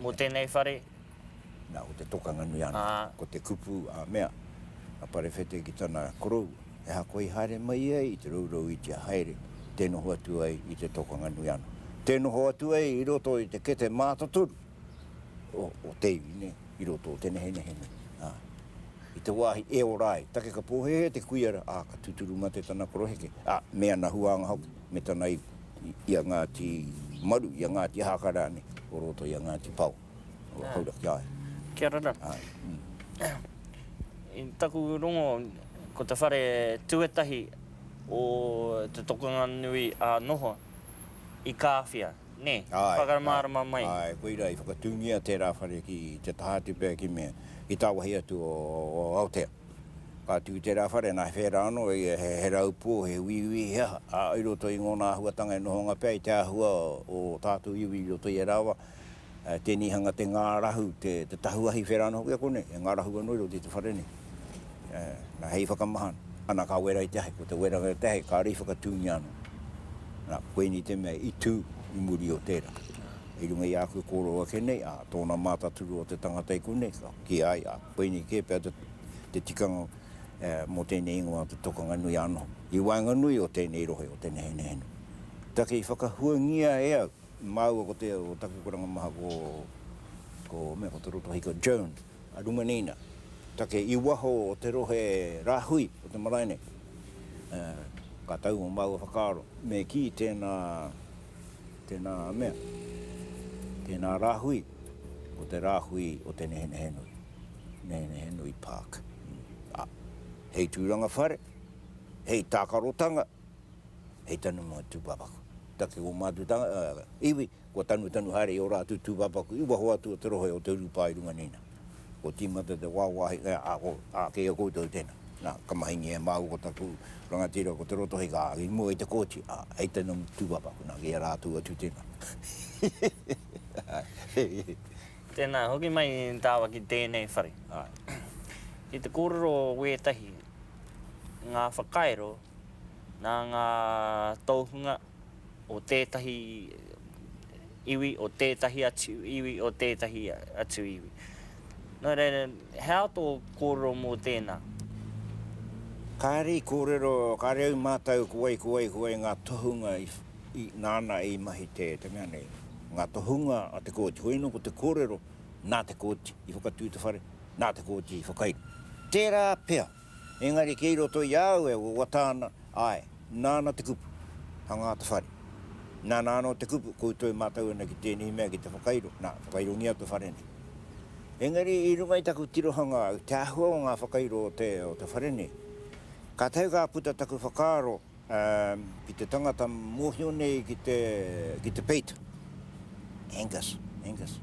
mō tēnei whare? Nā, ko te tokanga nui anō. Ā. Ko te kupu, ā, mea a Parewhete ki tana koroua, he aha koa i haere mai ia i te rourou i tia haere, tē noho atu ai i te tokanga nui anō. Tē noho atu ai i roto i te kete mātotoru. o te iwi nei i roto o te nehenehe nei. Ā, i te wāhi e ora ai, take ka pōhēhē te kuia rā, ā, ka tūturu mate tana koroheke, ā, me ana huānga hoki, me tana ipu, i a Ngāti Maru, i a Ngāti Haka rānei, o roto i a Ngāti Pao, o Hauraki, āe. Kia ora rā. Āe. I taku rongo, ko te whare tuatahi o te tokanga nui ā noho, i Kāwhia. Nē, whakamārama mai. Āe, koirā i whakatūngia tērā whare ki te taha atu pea ki mea, ki tāwāhi atu o Aotea. Ka tū tērā whare, nā, he whērā anō, he raupō, he uiui, he aha, ā, i roto i ngōna āhuatanga e nohonga pea i te āhua o tā te uiui i roto i ērā wā, tēnei hanga te ngārahu, te tahuahi whērā anō hoki a konei, e ngārahu anō i roto i te whare nei. Na, hei whakamaha, ana ka wera i te ahi, ko te weranga i te ahi, kāre i whakatūngia anō. Na, koinei te mea i tū i muri o tērā. I runga i āku kōrero ake nei, ā, tōna mātaturu o te tangata i konei, ka kī ai, ā, koinei kē pea te tikanga mō tēnei ingoa te Tokanganui-a-noho. I waenganui o tēnei rohe o Te Nehenehenui. Take i whakahuangia e au, māua ko te, o taku karanga maha ko, ko, mea, ko Te Rotohiko Jones. Rumanina, take i waho o te rohe rāhui o te marae nei. Ka tau o māua whakaaro, me kī tēnā, tēnā mea, tēnā rāhui, ko te rāhui o Te Nehenehenui, Nehenehenui Park. Ā, hei tūranga whare, hei tākarotanga, hei tanumanga tūpāpaku, take o mātou iwi, Kua tanutanu haere i ō rātou tūpāpaku i waho atu o te rohe o te urupā i runga nei nā. Kua tīmata te wāwāhi e āke i a koutou tēnā. Nā, ka mahingia e māua ko taku rangatira ko Te Rotohei ka āki mua i te kōti, ā, hei tēnā mō te tūpāpaku, nā, ki a rātou atu tēnā. Tēnā, hoki mai tāua ki tēnei whare. Ki te kōrero wētahi ngā whakairo nā ngā tōhunga o tētahi iwi, o tētahi atu iwi, o tētahi atu iwi. Nō reira, he aha tō kōrero mō tēnā? Kāre i kōrero, kāre au mātau ko wai, ko wai, ko wai ngā tohunga nāna i mahi te mea nei. Ngā tohunga a te kōti. Koia nō ko te kōrero, nā te kōti i whakatū te whare, nā te kōti i whakairo. Tērā pea. Engari kei roto i a au e wawata ana, āe, nāna te kupu, hangā te whare. Nāna anō te kupu, koutou e mātau ana ki tēnei mea ki te whakairo, nā, whakairongia te whare nei. Engari i runga i taku tirohanga i te āhua o ngā whakairo o te whare nei, kātahi ka puta taku whakaaro, Ki te tangata mohio nei ki te ki te peita. Angus, Angus,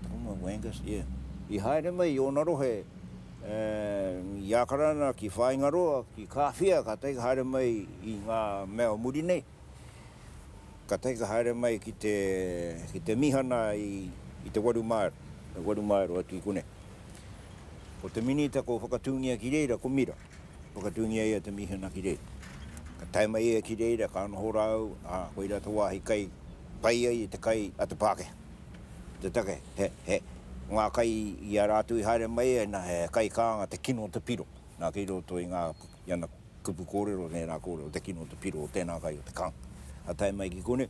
taku ingoa ko Angus, yeah. I haere mai i ona rohe i Akarana ki Whaingaroa, ki Kawhia, katahi ka haere mai i nga mea o muri nei. Katahi ka haere mai ki te ki te mihana i te waru maero, waru maero atu i konei. Ko te minita ko whakatungia ki reira ko Mira. Whakatūngia ia te mīhana ki reira. Ka tae mai ia ki reira, ka noho rāou, ā, koirā te wāhi kai pai ai i te kai a te Pākehā. Ko te take, he, he, ko ngā kai i a rātou i haere mai ai, nā, he kai kānga te kino o te piro. Nā, kei roto i ngā, i ana kupu kōrero, ngērā kōrero, te kino o te piro o tēnā kai o te kānga. Ka tae mai ki konei,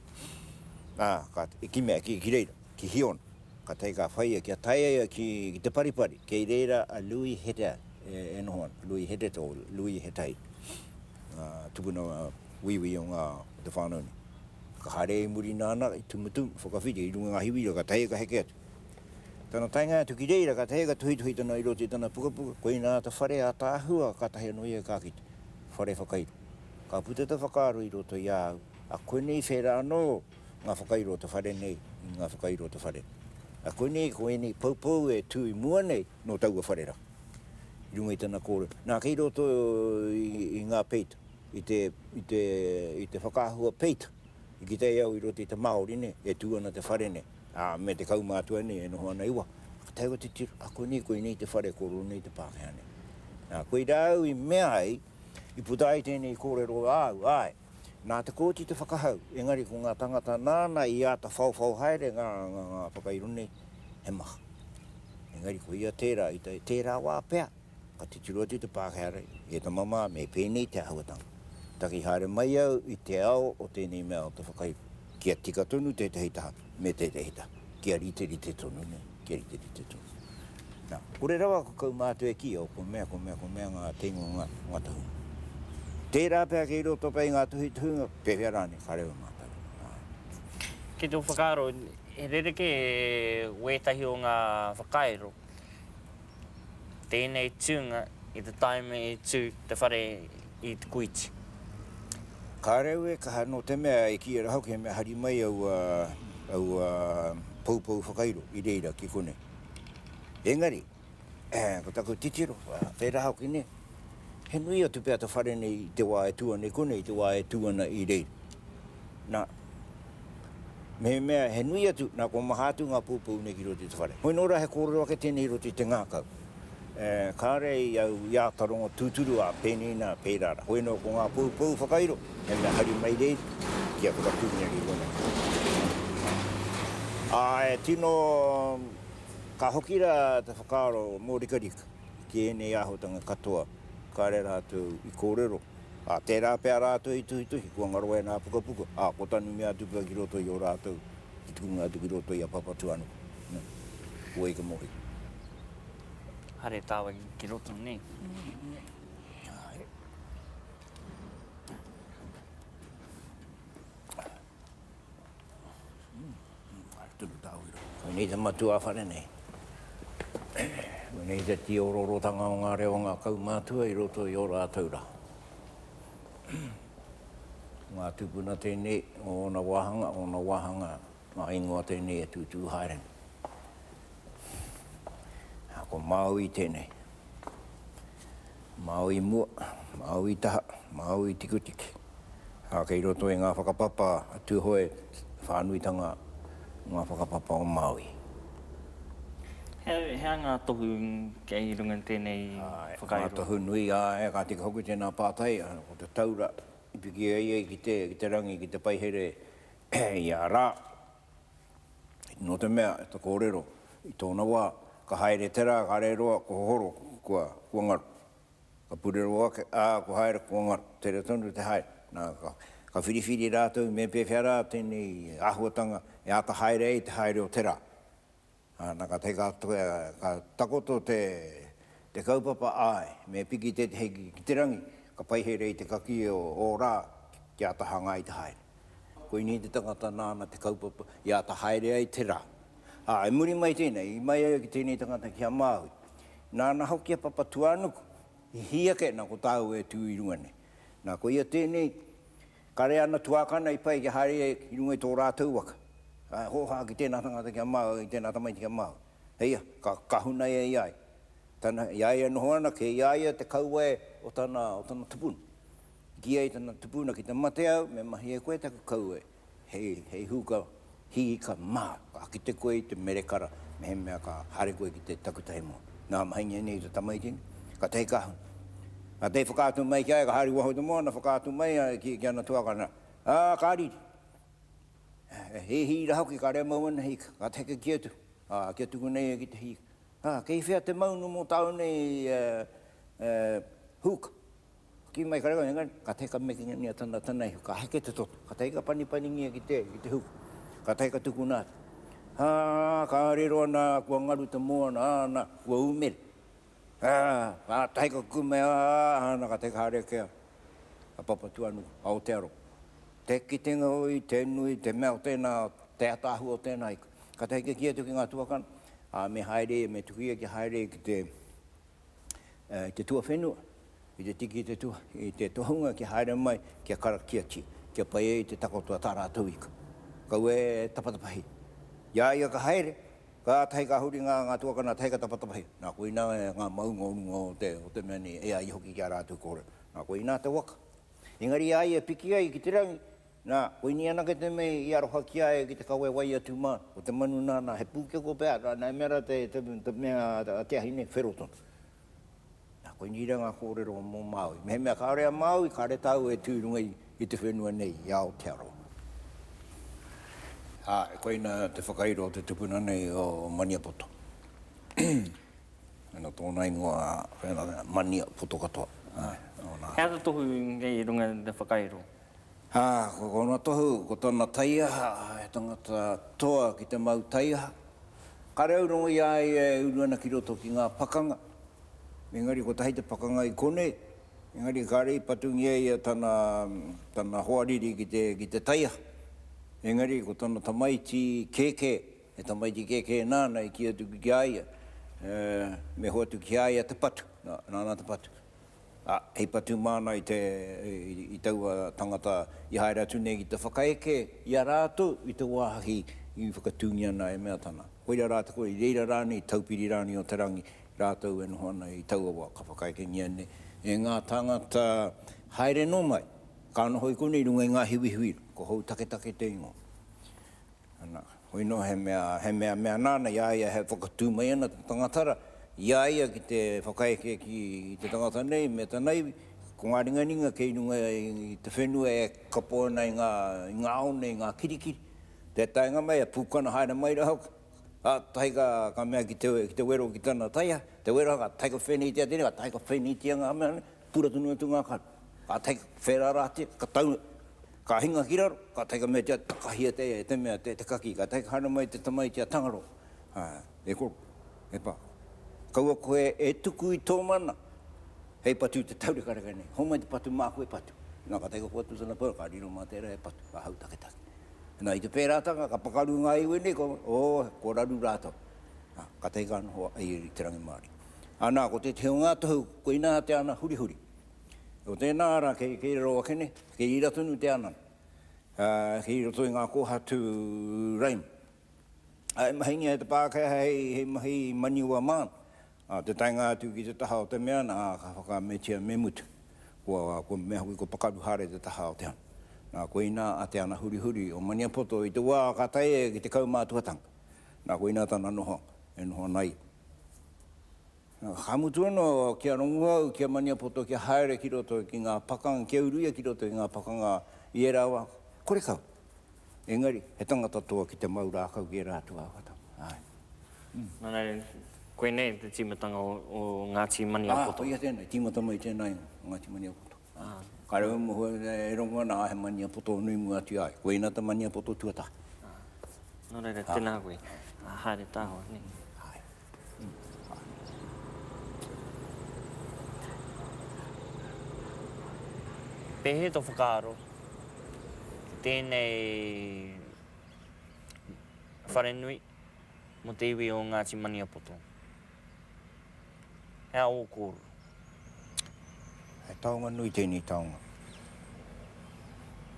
ā, ka, i kimea, ki, ki reira, ki Hiona. Ka tae ka whaia kia taea ia ki te paripari. Kei reira a Louis Hete e noho ana, Louis Hete tō Louis Hetahi, ngā tupuna Wīwī o ngā o te whānau nei. Ka haere i muri nāna i Tumutumu, whakawhiti i runga i ngā hiwira ka taea ka heke atu. Tana taenga atu ki reira ka taea ka tuhituhi tana i roto i tana pukapuka, koina ata whare ātaahua kātahi anō ia ka kite, whare whakairo. Ka puta te whakaaro i roto i a au, a koinei whērā anō ngā whakairo o te whare nei i ngā whakairo o te whare. A koinei ko ēnei poupou e tū i mua nei nō taua whare rā, i runga i tana kōrero. Nā, kei roto i ngā peita, i te, i te, i te whakaahua peita, i kitea au i roto i te Māori nei, e tū ana te whare nei, ā, me te kaumātua nei e noho ana i waho. Ka tae au te tiro, a koinei, koinei te whare, ko rōnei te Pākehā nei. Nā, koirā au i mea ai, i puta ai tēnei kōrero āu, āe, Nā te kōti te whakahau, engari ko ngā tāngata nāna i āta whaowhao haere ngā whakairo nei, he maha. Engari ko ia tērā, i tērā wā pea, ka titiro atu te Pākehā rei, E ta mama, me pēnei te āhuatanga. Taki haere mai au i te ao o tēnei mea o te whakahiko. Kia tika tonu tētahi taha me tētahi taha, kia riterite tonu nei, kia riterite tonu. Na, kore rawa ko kaumātua e kīia, o ko mea, ko mea, ko mea ngā teina o ngā, ngā tahunga. Tērā pea kei roto pea i ngā tuhituhinga, pēwhea rānei, ka reo mātou. Āe. Ki tō whakaaro, he rerekē wētahi o ngā whakairo? tēnei tūnga i te tāima i tū te whare i Te Kuiti. Kāre au e kaha nō te mea e kī ana hoki he mea hari mai aua, aua poupou whakairo i reira ki konei. Engari, ko taku titiro, tērā hoki nei, he nui atu pea te whare nei i te wā e tū ana i konei, i te wā e tū ana i reira. Nā. Mehemea he nui atu, nā kua maha atu ngā pūpou nei ki roto i te whare. Hoi nō rā he kōrero ake tēnei i roto i te ngākau. Kāre i au i āta rongo tūturu, ā, pēnei nā, pērā rā. Hoi nō ko ngā pūpou whakairo, he mea hari mai rei ki a Whakatūneri Ronald. Ā, e tino, ka hoki rā te whakaaro mōrikarika ki ēnei āhuatanga katoa, kāre rātou i kōrero. ā, tērā pea rātou i tuhituhi, kua ngaro e ngā pukapuka, ā, ko tanu mea atu pea ki roto i ō rātou, i tukuna atu ki roto i a Papatūānuku. Nē. Kua ika mō ia. Haere tāwai ki roto, nē. Āe. Koinei te matua a whare nei. Koinei te tīororotanga o ngā reo a ngā kaumātua i roto i ō rātou rā. Ko ngā tūpuna tēnei o ōna wāhanga, ōna wāhanga ngā ingoa tēnei e tūtū haere nei. Ā, ko Māui tēnei. Māui mua, Māui taha, Māui tikutiki. Ā, kei roto i ngā whakapapa a Tūhoe te whānuitanga o ngā whakapapa o Māui. He, he aha ngā tohu kei runga i tēnei whakairo? Āe, ngā tohu nui, āe, ka tika hoki tēnā pātai, ko te taura i piki ai ai ki te, ki te rangi, ki te paihere i a rā. Nō te mea, e te kōrero, i tōna wā, ka haere te rā, ka rere roa, ko Hohoro, kua, kua ngaru. Ka purero ake, ā, kua haere, kua ngaru. Tere tonu te haere. Nā, ka, ka whiriwhiri rātou me pēwhea rā tēnei āhuatanga e āta haere ai te haere o te rā. Ā, nā ka tae ka takoia, ka takoto te, te kaupapa, āe, me piki tētehi ki, ki te rangi, ka pai here i te kakī o ō rā ki āta hangā i te haere. Koinei te tangata nāna te kaupapa i āta haere ai te rā. Ā, i muri mai tēnei, i mai ai ki tēnei tangata ki a Māui, nāna hoki a Papatūānuku i hī ake nā ko tāua e tū i runga nei. Nā, koia tēnei. Kare ana tuākana i pai kia haere ki runga i tō rātou waka. Ka hōhā ki tēnā tangata kia mau i tēnā tamaiti kia mau. Hei aha, ka, ka hunaia i a ia. Tana, i a ia e noho ana, kei i a ia te kauwae o tana, o tana tupuna. I kī ai tana tupuna, ki te mate au, me mahia koe taku kauwae, hei, hei huka Hiika, Mā, ka kite koe i te merekara mehemea ka haere koe ki te takutahi moa. Nā, mahi nei nei te tamaiti nei, ka tahi ka huna. Ka tahi whakaatu mai ki a ia, ka haere waho i te moana, whakaatu mai a ia ki ana tuakana, ā, ka riri. E hīhī rā hoki, ka remau ana Hiika, ka tahi ka kī atu, ā, kia tuku nei ia ki te Hiika. Ā, kei whea te maunu mō tāu nei, e, e, Huka? Kī mai kare kau, engari, kātahi ka mekingia tana tana ihu, ka heke te toto, kātahi ka panipanigia ki te, ki te huku, kātahi ka tukuna atu. Ā, ka riro ana, kua ngaru te moana, āna, kua umere. Ā, kātahi ka kume, ā, āna, kātahi ka haere ake a, a Papatuanuku, a Aotearoa. Te kitenga o i, te nui, te mea o tēnā, te ataahua o tēnā ika. Kātahi ka kī atu ki ngā tuakana, ā, me haere ia, me tuku ia kia haere ki te, te tuawhenua, i te tiki i te tohunga kia haere mai, kia karakiatia, kia pai ai te takoto a tā rātou ika. Kaua e tapatapahi. I a ia ka haere, kātahi ka huri ngā tuakana tahi ka tapatapahi. Nā koinā ngā maunga o runga o te mea nei, e ai hoki ki a rātou kōrero. Nā koinā te waka, Engari i a ia e piki ai ki te rangi, nā, koinei anake te mea i aroha ki a ia ki te kawe wai atu mā, ko te manu nāna he pūkeko pea, nā, nā, i mea rā te, te, te mea a Te Ahi nei, whero tonu. Nā, koinei rā ngā kōrero mō Māui. Mehemea kāore a Māui, kāore tāua e tū i runga i, i te whenua nei, i Aotearoa. Ā, koina te whakairo o te tupuna nei o Maniapoto. Ana tōna ingoa Mania Poto katoa. He aha te tohu kei runga i te whakairo? Ā, ko tōna tohu, ko tana taiaha, he tangata toa ki te mau taiaha. Kāre au rongo i a ia e uru ana ki roto ki ngā pakanga, engari kotahi te pakanga i konei, engari kāre i patungia ia tana, tana hoariri ki te, ki te taiaha. Engari ko tana tamaiti kēkē. He tamaiti kēkē nāna i kī atu ki a ia, me hoatu ki a ia te patu, nāna te patu. Ā, hei patu māna i te, i taua tangata i haere atu nei ki te whakaeke i a rātou i te wāhi i whakatūngia ana e mea tana. Koira rā te kore, i reira rānei, Taupiri rānei o te rangi, rātou e noho ana i taua wā ka whakaekengia nei e ngā tāngata haere nō mai, ka noho i konei i runga i ngā hiwihiwi, ko Houtaketake te ingoa. Ana, hoi noa he mea, he mea mea nāna i a ia he whakatū mai ana te tangatara i a ia ki te whakaeke ki te tangata nei me tana iwi, ko ngā ringaringa kei runga i te whenua e kapo ana i ngā, i ngā ao nei, i ngā kirikiri, te taenga mai e pūkana haere mai rā hoki, kātahi ka, ka mea ki te, ki te wero ki tana taiha, te wero ka taeka whēneitia tēnei, ka taeka whēneitia ngā mea nei, pura tonu atu ngā karu, ka tae, whērā rātia, ka tau, Ka hinga ki raro, ka tae ka mea kia takahia te aia, e te mea, te kaki, ka tae ka haere mai te tamaiti a Tangaroa, aa, e koro, e pa, kaua koe e tuku i tō mana hei patu i te taurekareka nei, homai te patu māku e patu. Na, ka tae ka hoatu tana pau, ka riro mā tērā e patu, ka hau taketake. Na, i te pērātanga, ka pakaru ngā iwi nei, ka, oo, ko raru rātou. Na, ka tae ka noho a Iri i te rangimārie. Anā, ko tētehi o ngā tohu, koinā te ana hurihuri, Ko tēnā ara kei raro ake nei, kei rira tonu te ana, kei roto i ngā kōhatu raima. E mahingia e te Pākehā hei mahi maniwa māna, nā te taenga atu ki te taha o te mea nā ka whakaametia me mutu, kua mea hoki ko Pakaruhare te taha o te ana. Nā koinā a Te Ana Hurihuri o Maniapoto i te wā ka tae ia ki te kaumātuatanga, nā koinā tana noho e noho ana ai. Ka mutu anō ki a Ronguhau, ki a Maniapoto kia haere ki roto ki ngā pakanga, kia uruia ki roto ki ngā pakanga i ērā wā, kore kau. Engari, he tangata toa ki te mau rākau ki ērā atu wā katoa. Āe. Nā reira, koinei te tīmatanga o Ngāti Maniapoto. Ā, koia tēnei, tīmata mai tēnā ingoa, Ngāti Maniapoto. Ka rewa moho e rongo ana, he maniapoto nui mua atu ia ai. Koina te maniapoto tuatahi. Nō reira, tēnā koe. Haere tāho, nē. Pēhea tō whakaaro ki tēnei wharenui mō te iwi o Ngāti Maniapoto? He ao o kōrua. He taonga nui tēnei taonga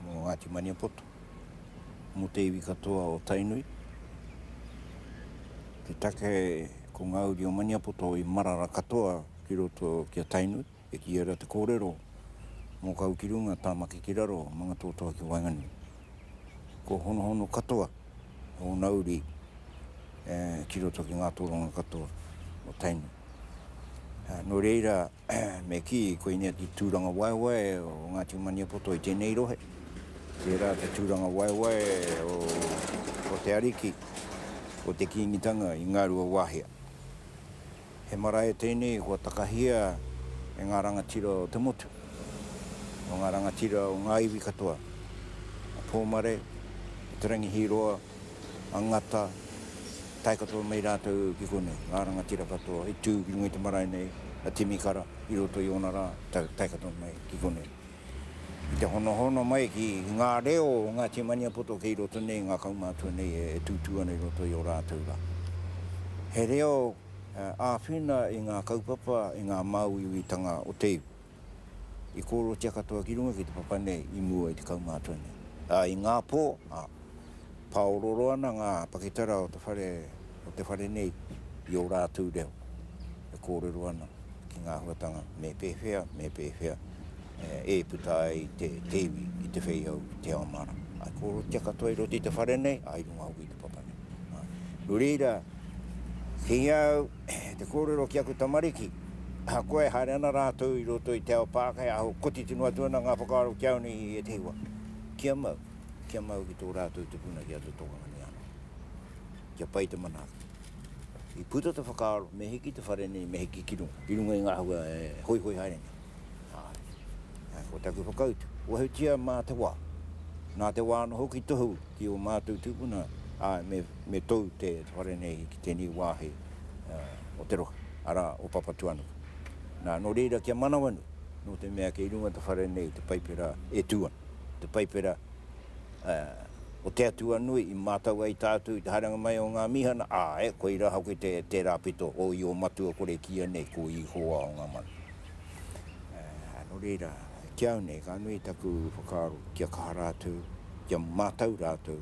mō Ngāti Maniapoto, mō te iwi katoa o Tainui. Te take ko ngā uri o Maniapoto i marara katoa ki roto ki a Tainui. E kīia rā te kōrero, Mōkau ki runga, Tāmaki ki raro, Mangatoatoa ki waenganui. Kua honohono katoa ōna uri ki roto ki ngā tōranga katoa o Tainui. Nō reira, me kī, koinei te tūrangawaewae o Ngāti Maniapoto i tēnei rohe, tērā te tūrangawaewae o te ariki, o te Kīngitanga i Ngāruawāhia. He marae tēnei i hoatakahia e ngā rangatira o te motu, o ngā rangatira o ngā iwi katoa, a Pōmare, a Te Rangi Hīroa, a Ngata, tae katoa mai rātou ki konei, ngā rangatira katoa i tū ki runga i te marae nei, a Timi Kara, i roto i ōna rā, tae katoa mai ki konei. ki te honohono mai ki ngā reo o Ngāti Maniapoto kei roto nei, ngā kaumātua nei e tūtū ana i roto i ō rātou rā. He reo āwhina i ngā kaupapa, i ngā māuiuitanga o te iwi. I kōrotia katoa ki runga ki te papa nei i mua i te kaumātua nei. Ā, i ngā pō, ā, pāororo ana ngā pakitara o te whare, o te whare nei i ō rātou reo, e kōrero ana ki ngā huatanga me pēwhea, me pēwhea. e puta ai te, te iwi i te whei au i te ao mara. Ai koro te katoa i roti te whare nei, ai runga au i te papa nei. Nō reira, ki au, te kōrero ki aku tamariki, ha koe e haere ana rātou i roto i te ao Pākehā, aho koti tino atu ana ngā whakaaro ki au nei i ētehi wā. Kia mau, kia mau ki tō rātou te puna ki a te tokanga nei anō. Kia pai te manaaki. I puta te whakaaro, me hiki te whare nei, me hiki ki runga, i runga i ngā hua e hoihoi haere nei. Āe. Ko taku whakautu, wahutia mā te wā. Nā te wā anō hoki tohu ki ō mātou tūpuna, āe, me, me tou te whare nei ki tēnei wāhi o te rohe, arā, o Papatūānuku. Nā, nō reira kia manawanui, nō te mea kei runga te whare nei te Paipera e tū ana, te Paipera o te Atua nui i mātau ai tātou i te haerenga mai o ngā mīhana, āe, koirā hoki te, tērā pito o i ō matua kore kīia nei ko Ihowa o ngā mano. Nō reira, ki au nei, ka nui taku whakaaro kia kaha rātou, kia mātau rātou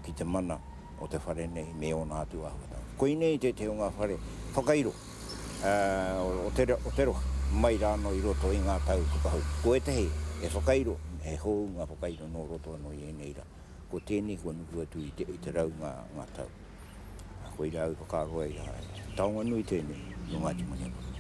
ki te mana o te whare nei me ōna atu āhuatanga. Koinei tētahi o ngā whare whakairo o te rohe, mai rānō i roto i ngā tau whakahou. Ko ētahi e whakairo, he hou ngā whakairo nō roto anō i ēnei rā. Ko tēnei kua nuku atu i te rau ngā tau. Koirā au i whakaaro ai rā, he taonga nui tēnei nō Ngāti Maniapoto.